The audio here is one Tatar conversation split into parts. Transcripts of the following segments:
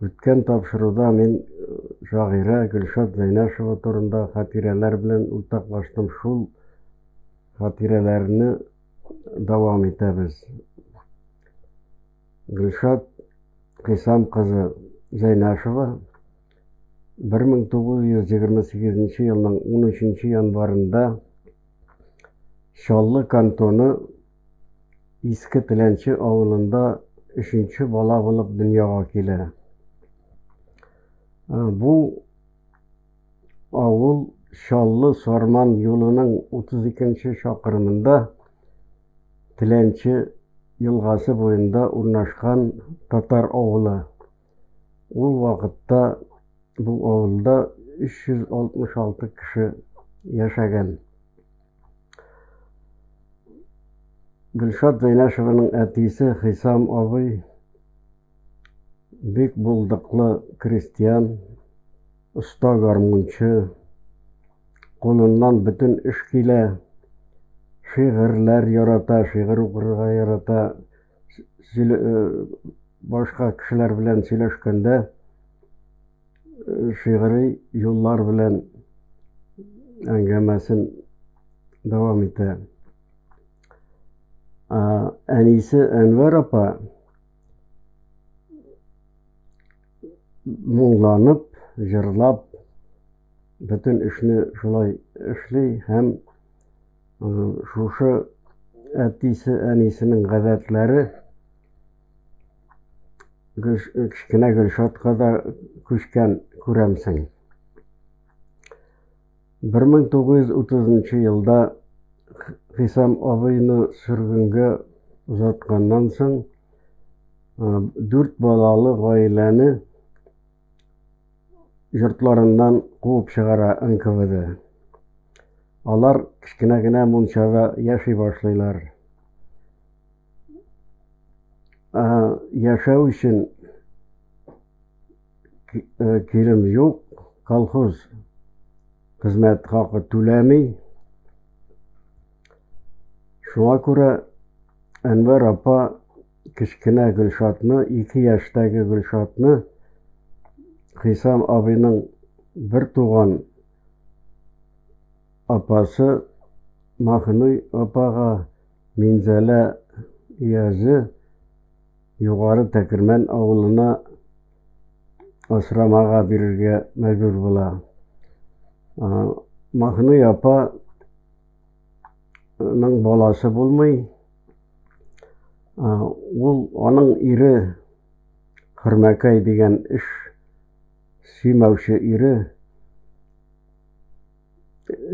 Үткән тапшыруда мин э, шагыйрә Гөлшат Зәйнәшева турында хатирәләр белән уртаклаштым. Шул хатирәләрне дәвам итәбез. Гөлшат Хисам кызы Зәйнәшева 1928 елның 13 январында Чаллы кантоны Иске Теләнче авылында өченче бала булып дөньяга килә. Бу авыл Чаллы Сарман юлының 32-нче чакрымында Теләнче елгасы буенда урнашкан татар авылы. Ул вакытта бу авылда 366 кеше яшәгән. Гөлшат Зәйнәшеваның әтисе Хисам абый бик булдыклы крестьян, оста гармунчы, кулыннан бөтен эш килә, шигырьләр ярата, шигырь укырга ярата. башка кешеләр белән сөйләшкәндә шигъри юллар белән әңгәмәсен дәвам итә. Әнисе Әнвәр апа моңланып, җырлап, бөтен эшне шулай эшли һәм Шушы әтисе, әнисенең гадәтләре кечкенә Гөлшатка да күчкән күрәмсең. 1930 елда Хисам абыйны сөргенгә озатканнан соң, дүрт балалы гаиләне йортларыннан куып чыгара НКВД. Алар кечкенә генә мунчада яши башлыйлар. Яшәү өчен килем юк, колхоз хезмәт хакы түләми. Шуңа күрә Әнвәр апа Кечкенә Гөлшатны, ике яшьтәге Гөлшатны Хисам абыйның бертуган апасы Маһнуй апага Минзәлә өязе Югары Тәкермән авылына асрамага бирергә мәҗбүр була. Маһнуй апа Аның баласы булмый. Ул аның ире Хөрмәкәй дигән эш сөймәүче ире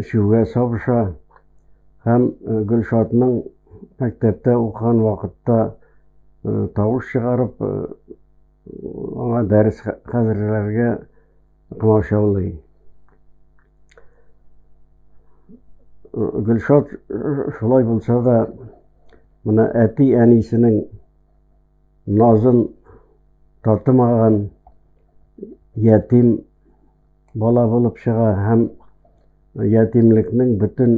эчүгә сабыша һәм Гөлшатның мәктәптә укыган вакытта тавыш чыгарып аңа дәрес хәзерләргә Комачаулый. Гөлшат шулай булса да, менә әти-әнисенең назын татымаган ятим бала булып чыга һәм ятимлекнең бөтен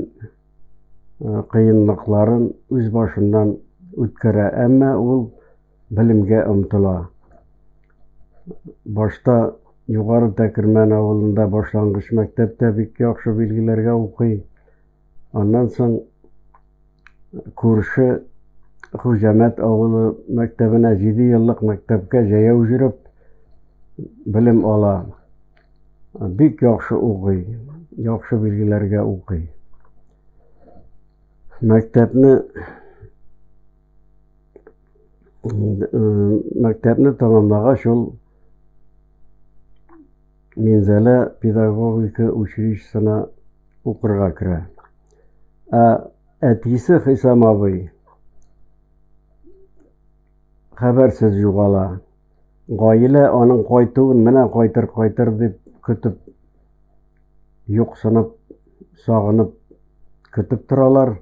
кыенлыкларын үз башыннан үткәрә. Әмма ул белемгә омтыла. Башта Югары Тәкермән авылында башлангыч мәктәптә бик яхшы билгеләргә укый. Аннан соң күрше Хуҗәмәт авылы мәктәбенә 7 еллык мәктәпкә җәяү җөреп белем ала. Бик яхшы укый, яхшы билгеләргә укый. Мәктәпне мәктәпне тәмамлагач ул Минзәлә педагогика училищесына укырга керә. Ә әтисе Хисам абый хәбәрсез югала. Гаилә аның кайтуын менә кайтыр кайтыр дип көтеп юксынып, сагынып көтеп торалар.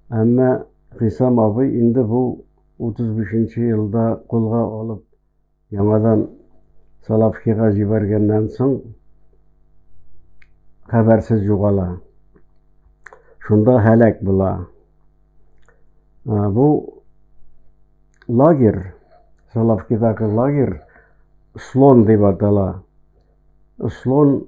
Әмма Хисам абый инде бу 35 нче елда кулга алып, яңадан Салавкига җибәргәннән соң, хәбәрсез югала. Шунда һәлак була. Бу лагерь, Салавкидагы лагерь Слон дип атала. Слон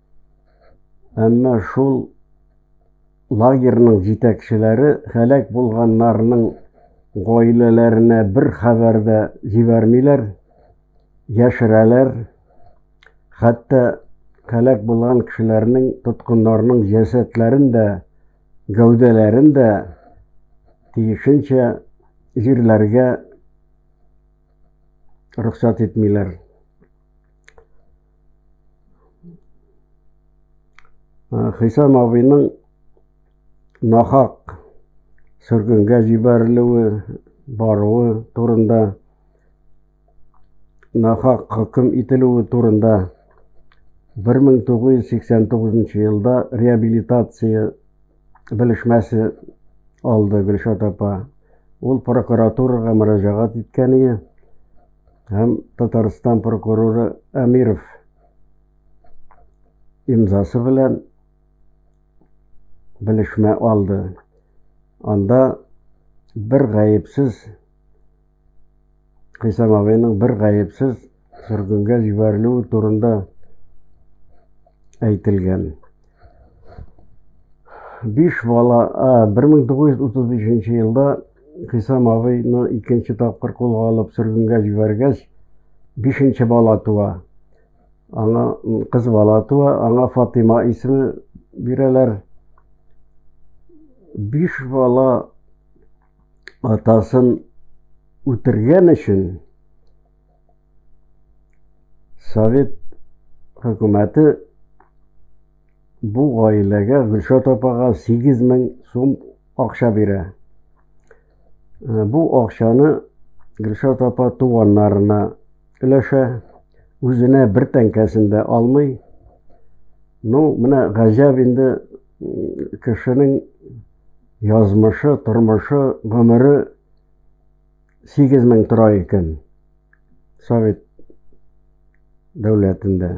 Әмма шул лагерьның җитәкчеләре һәлак булганнарның гаиләләренә бер хәбәр дә җибәрмиләр, яшерәләр. Хәтта һәлак булган кешеләрнең, тоткыннарның җәсәдләрен дә, гәүдәләрен дә тиешенчә җирләргә рөхсәт итмиләр. Э, Хисам абыйның нахак сөргенгә җибәрелүе, баруы турында, нахак хөкем ителүе турында 1989 елда реабилитация белешмәсе алды Гөлшат апа. Ул прокуратурага мөрәҗәгать иткән иде һәм Татарстан прокуроры Әмиров имзасы белән белешмә алды. Анда бер гаепсез Хисам абыйның бер гаепсез сөргенгә җибәрелүе турында әйтелгән. Биш бала, 1935 елда Хисам абыйны икенче тапкыр кулга алып сөргенгә җибәргәч, бишенче бала туа. Аңа кыз бала туа, аңа Фатыйма исеме бирәләр. Биш бала атасын үтергән өчен совет хөкүмәте бу гаиләгә Гөлшат апага 8 мең сум акча бирә. Э, бу акчаны Гөлшат апа туганнарына өләшә, үзенә бер тәңкәсен дә алмый. Ну, менә гаҗәп инде кешенең Язмышы, тормышы, гомере сигез мең тора икән Совет дәүләтендә.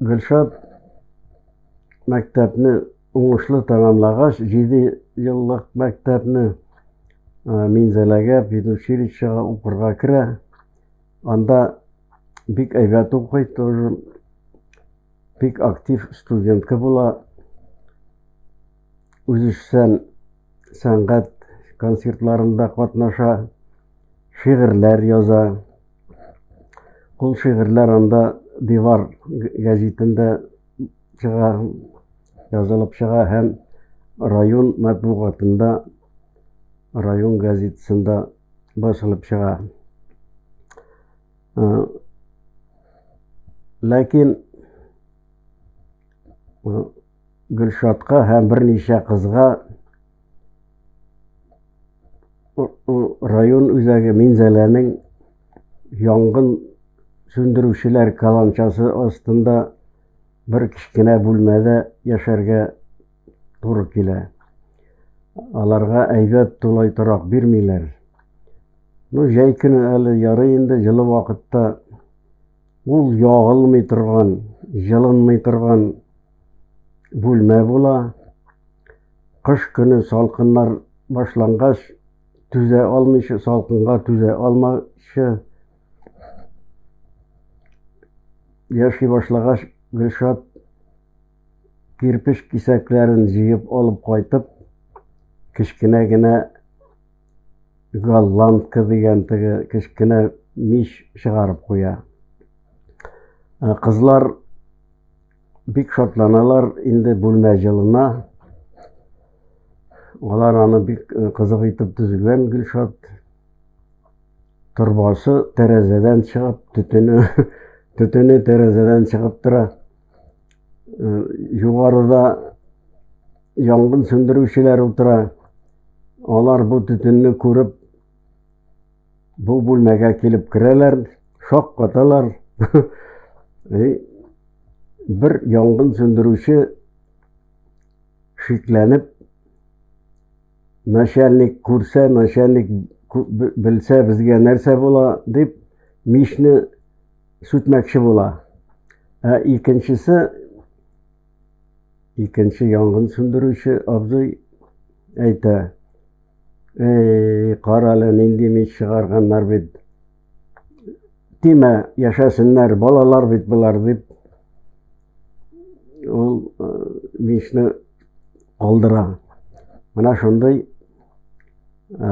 Гөлшат мәктәпне уңышлы тәмамлагач, җиде еллык мәктәпне Минзәләгә педучилищега укырга керә. Анда бик әйбәт укый тоже. Бик актив студентка була. Үзешчән сәнгать концертларында катнаша, шигырьләр яза. Ул шигырьләр анда Дивар гәзитендә чыга, язылып чыга һәм район матбугатында, район газетасында Басылып чыга. Э, ләкин э, Гөлшатка һәм берничә кызга район үзәге Минзәләнең янгын сүндерүчеләр каланчасы астында бер кечкенә бүлмәдә яшәргә туры килә. Аларга әйбәт тулай торак бирмиләр. Ну, җәй көне әле ярый инде җылы вакытта ул ягылмый торган, җылынмый торган бүлмә була. Кыш көне салкыннар башлангач, түзә алмыйча, салкынга түзә алмаучы яши башлагач, Гөлшат кирпеч кисәкләрен җыеп алып кайтып, кечкенә генә голландка дигән теге кечкенә мич чыгарып куя. Э, кызлар бик шатланалар, инде бүлмә җылына. Алар аны бик э, кызык итеп төзегән Гөлшат. Торбасы тәрәзәдән чыгып, төтене төтене тәрәзәдән чыгып тора. Югарыда янгын сүндерүчеләр утыра. Алар бу төтенне күреп, бу бүлмәгә килеп керәләр, шок каталар. Бер янгын сүндерүче шикләнеп, начальник күрсә, начальник белсә, безгә нәрсә була, дип, мичне сүтмәкче була. Ә икенчесе, икенче янгын сүндерүче абзый әйтә, Эй, карале, нинди мич чыгарганнар бит. Тимә, яшәсеннәр, балалар бит болар, дип, ул э, мичне калдыра. Менә шундый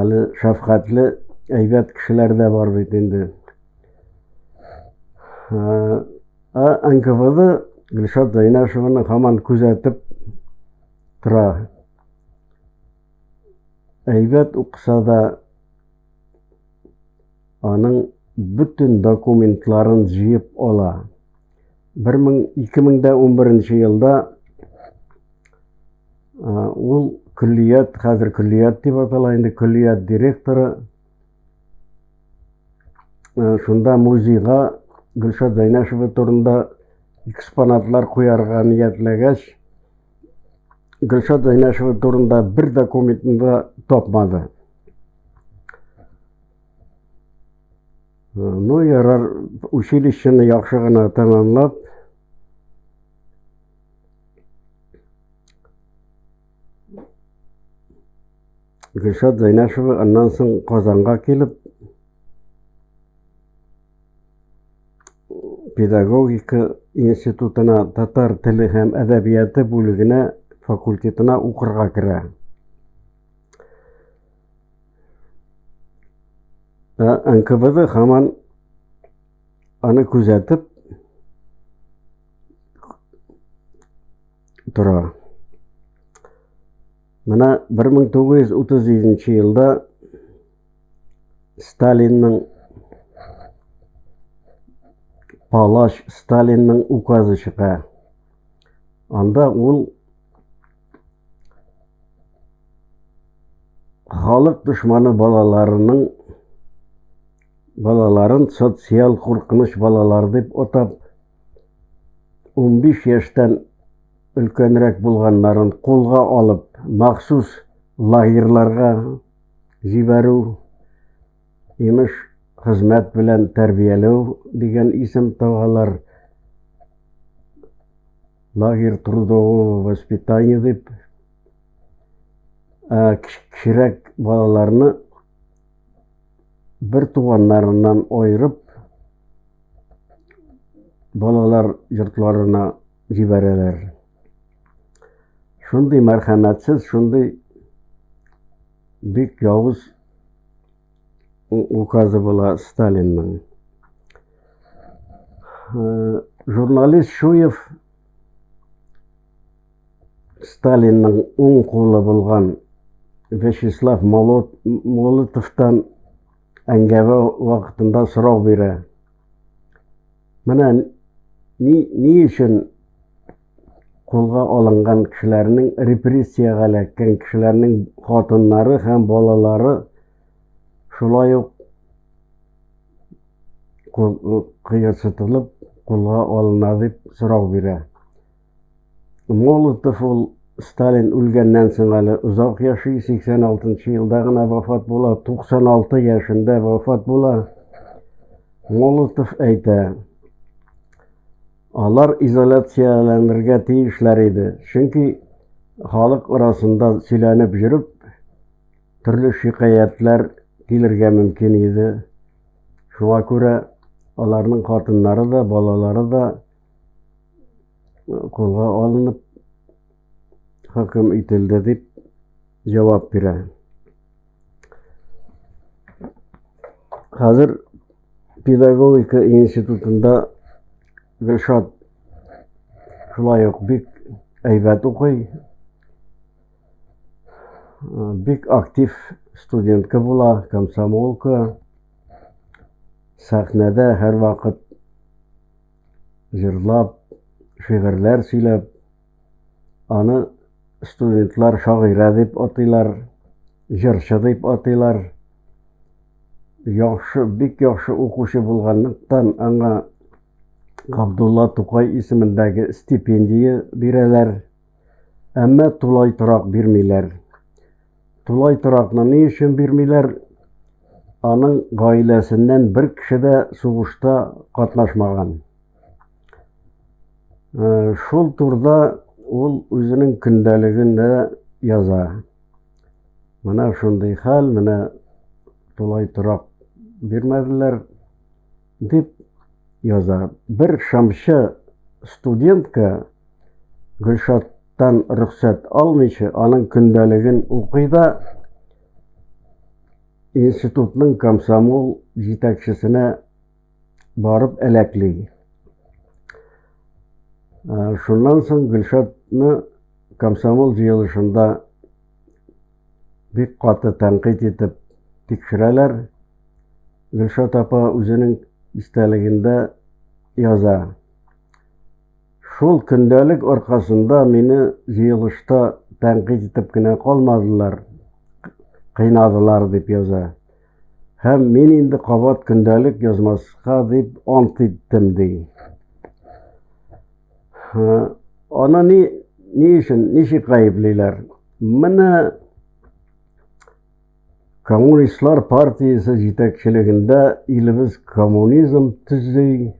Әле шәфкатьле, әйбәт кешеләр дә бар бит инде. Ә НКВД Гөлшат Зәйнәшеваны һаман күзәтеп тора. Әйбәт укыса да, аның бөтен документларын җыеп ала. 2011 елда ул күллият, хәзер күллият дип атала инде, күллият директоры шунда музейга Гөлшат Зәйнәшева турында экспонатлар куярга ниятләгәч, Гөлшат Зәйнәшева турында бер документында тапмады. Ну, ярар, училищены яхшы гына тәмамлап, Гөлшат Зайнашева аннан соң Казанга килеп, педагогика институтына татар теле һәм әдәбияты бүлегенә факультетына укырга керә. Ә НКВД хаман аны күзәтеп тора. Менә 1937 елда Сталинның Палаш Сталинның указы чыга. Анда ул Халык дошманы балаларының балаларын социаль куркыныч балалар дип атап, 15 яшьтән өлкәнрәк булганнарын кулга алып, махсус лагерьларга җибәрү, имеш, хезмәт белән тәрбияләү дигән исем тагалар. Лагерь трудового воспитания дип ә, кечерәк балаларны бер туганнарыннан айырып, балалар йортларына җибәрәләр. Шундый мәрхәмәтсез, шундый бик явыз указы була Сталинның. Э, журналист Шуев Сталинның уң кулы булган Вячеслав Молотовтан әңгәмә вакытында сорау бирә. Менә ни, ни өчен кулга алынган кешеләрнең репрессиягә эләккән кешеләрнең хатыннары һәм балалары шулай ук кыерсытылып кулга алына дип сорау бирә. Молотов ул Сталин үлгәннән соң әле озак яши, 86 елда гына вафат була, 96 яшендә вафат була. Молотов әйтә, алар изоляцияләнергә тиешләр иде, чөнки халык арасында сөйләнеп йөреп, төрле шикаятләр килергә мөмкин иде. Шуңа күрә аларның хатыннары да, балалары да Кулга алынып хөкем ителде дип җавап бирә. Хәзер педагогика институтында Гөлшат шулай ук бик әйбәт укый, бик актив студентка була, комсомолка, сәхнәдә һәрвакыт җырлап, шигырьләр сөйләп, аны студентлар шагыйрә дип атыйлар, җырчы дип атыйлар. Яхшы, бик яхшы укучы булганлыктан, аңа Габдулла Тукай исемендәге стипендия бирәләр. Әмма тулай торак бирмиләр. Тулай торакны ни өчен бирмиләр? Аның гаиләсеннән бер кеше дә сугышта катнашмаган. Э, шул турда ул үзенең көндәлегендә яза. Менә шундый хәл, менә тулай торак бирмәделәр. Дип яза. Бер шамчы студентка Гөлшаттан рөхсәт алмыйча, аның көндәлеген укый да институтның комсомол җитәкчесенә барып әләкли. Шуннан соң Гөлшатны комсомол җыелышында бик каты тәнкыйть итеп тикшерәләр. Гөлшат апа үзенең истәлегендә яза. Шул көндәлек аркасында мине җыелышта тәнкыйть итеп кенә калмадылар, кыйнадылар дип яза. Һәм мин инде кабат көндәлек язмаска дип ант иттем ди. Аны ни, ни өчен, ничек гаеплиләр? Менә коммунистлар партиясе җитәкчелегендә илебез коммунизм төзи,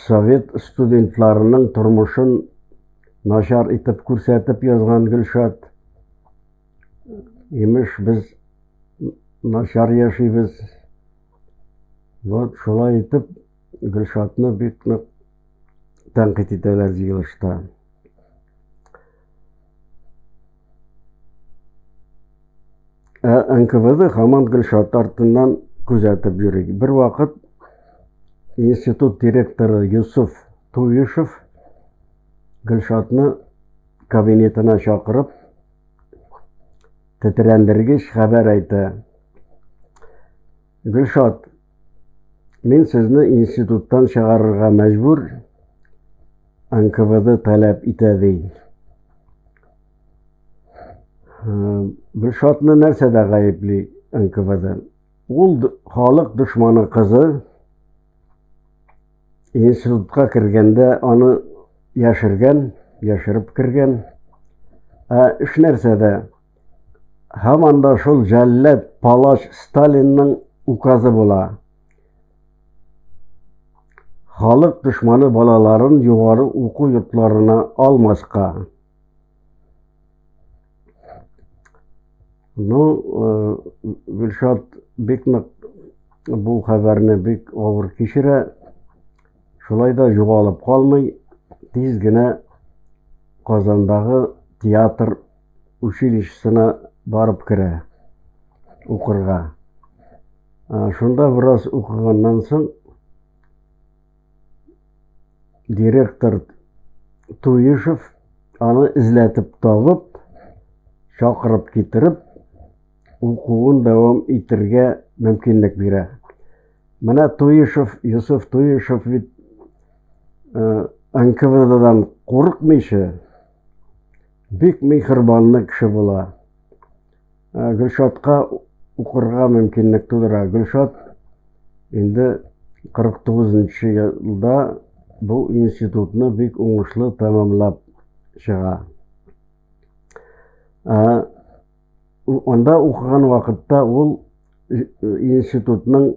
совет студентларының тормышын начар итеп күрсәтеп язган Гөлшат. Имеш, без начар яшибез. Вот шулай итеп Гөлшатны бик нык тәнкыйть итәләр җыелышта. Ә НКВД хаман Гөлшат артыннан күзәтеп йөри. Бер вакыт институт директоры Юсуф Туешев Гөлшатны кабинетына чакырып, тетрәндергеч хәбәр әйтә. Гөлшат, Мин сезне институттан чыгарырга мәҗбүр, НКВД таләп итә, ди. Гөлшатны нәрсәдә гаепли НКВД? Ул халык дошманы кызы институтка кергәндә аны яшергән, яшереп кергән. Ә эш нәрсәдә? Һаман да шул җәлләд палач Сталинның указы була. Халык дошманы балаларын югары уку йортларына алмаска. Ну, э, Гөлшат бик нык бу хәбәрне бик авыр кичерә. Шулай да югалып калмый, тиз генә Казандагы театр Училищесына барып керә укырга. Шунда бераз укыганнан соң директор Туешев аны эзләтеп табып, чакырып китереп, укуын дәвам итергә мөмкинлек бирә. Менә Туешев, Юсуф Туешев бит НКВДдан курыкмыйча, Бик михырбанлы кеше була. Ә, Гөлшатка укырга мөмкинлек тудыра. Гөлшат инде 49 нчы елда бу институтны бик уңышлы тәмамлап чыга. Ә, Анда укыган вакытта ул институтның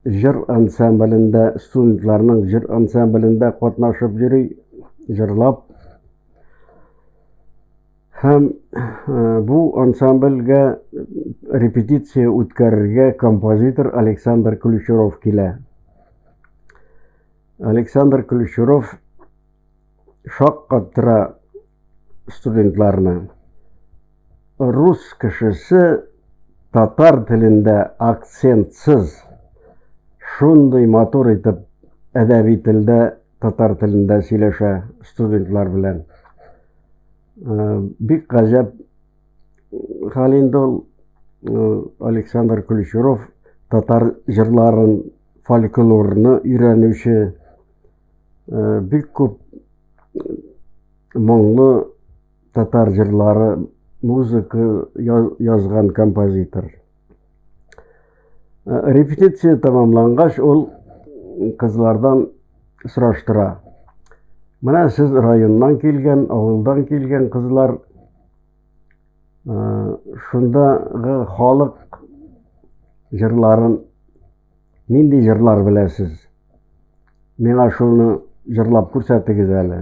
җыр ансамблендә, студентларның җыр ансамблендә катнашып йөри, җырлап. Һәм бу ансамбльгә репетиция үткәрергә композитор Александр Ключуров килә. Александр Ключуров шаккаттыра студентларны. Рус кешесе татар телендә акцентсыз шундый матур итеп әдәби телдә татар телендә сөйләшә студентлар белән. Э, бик гаҗәп хәл инде ул э, Александр Ключуров татар җырларын, фольклорны өйрәнүче Бик күп моңлы татар җырлары, музыка язган композитор. Репетиция тәмамлангач, ул кызлардан сораштыра. Менә сез районнан килгән, авылдан килгән кызлар, шундагы халык җырларын Нинди җырлар беләсез? Миңа шуны җырлап күрсәтегез әле.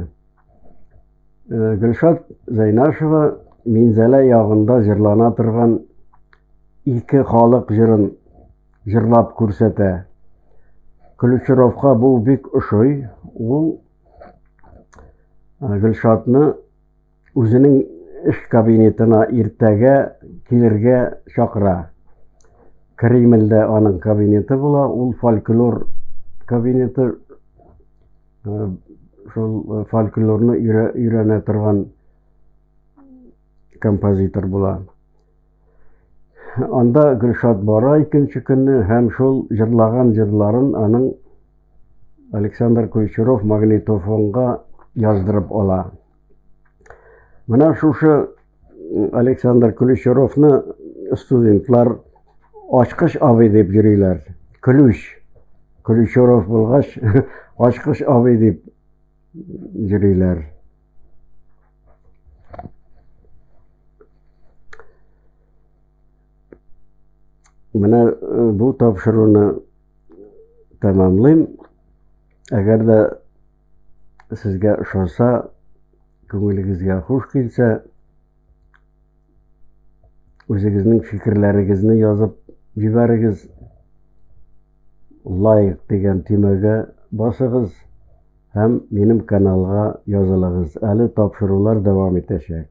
Э, Гөлшат Зәйнашева Минзәлә ягында җырлана торган ике халык җырын җырлап күрсәтә. Ключировка бу бик ошый. Ул э, Гөлшатны үзенең эш кабинетына иртәгә килергә чакыра. Кремльдә аның кабинеты була, ул фольклор кабинеты э, шул э, фольклорны өйрәнә торган композитор була. Анда Гөлшат бара икенче көнне һәм шул җырлаган җырларын аның Александр Кульчуров магнитофонга яздырып ала. Менә шушы Александр Ключеровны студентлар ачкыч абый дип йөриләр. Ключ. Ключеров булгач, ачкыч абый дип йөриләр. Менә бу тапшыруны тәмамлыйм. Әгәр дә Сезгә ошаса, күңелегезгә хуш килсә, үзегезнең фикерләрегезне язып җибәрегез. Лайк дигән төймәгә басыгыз һәм минем каналга язылыгыз. Әле тапшырулар дәвам итәчәк.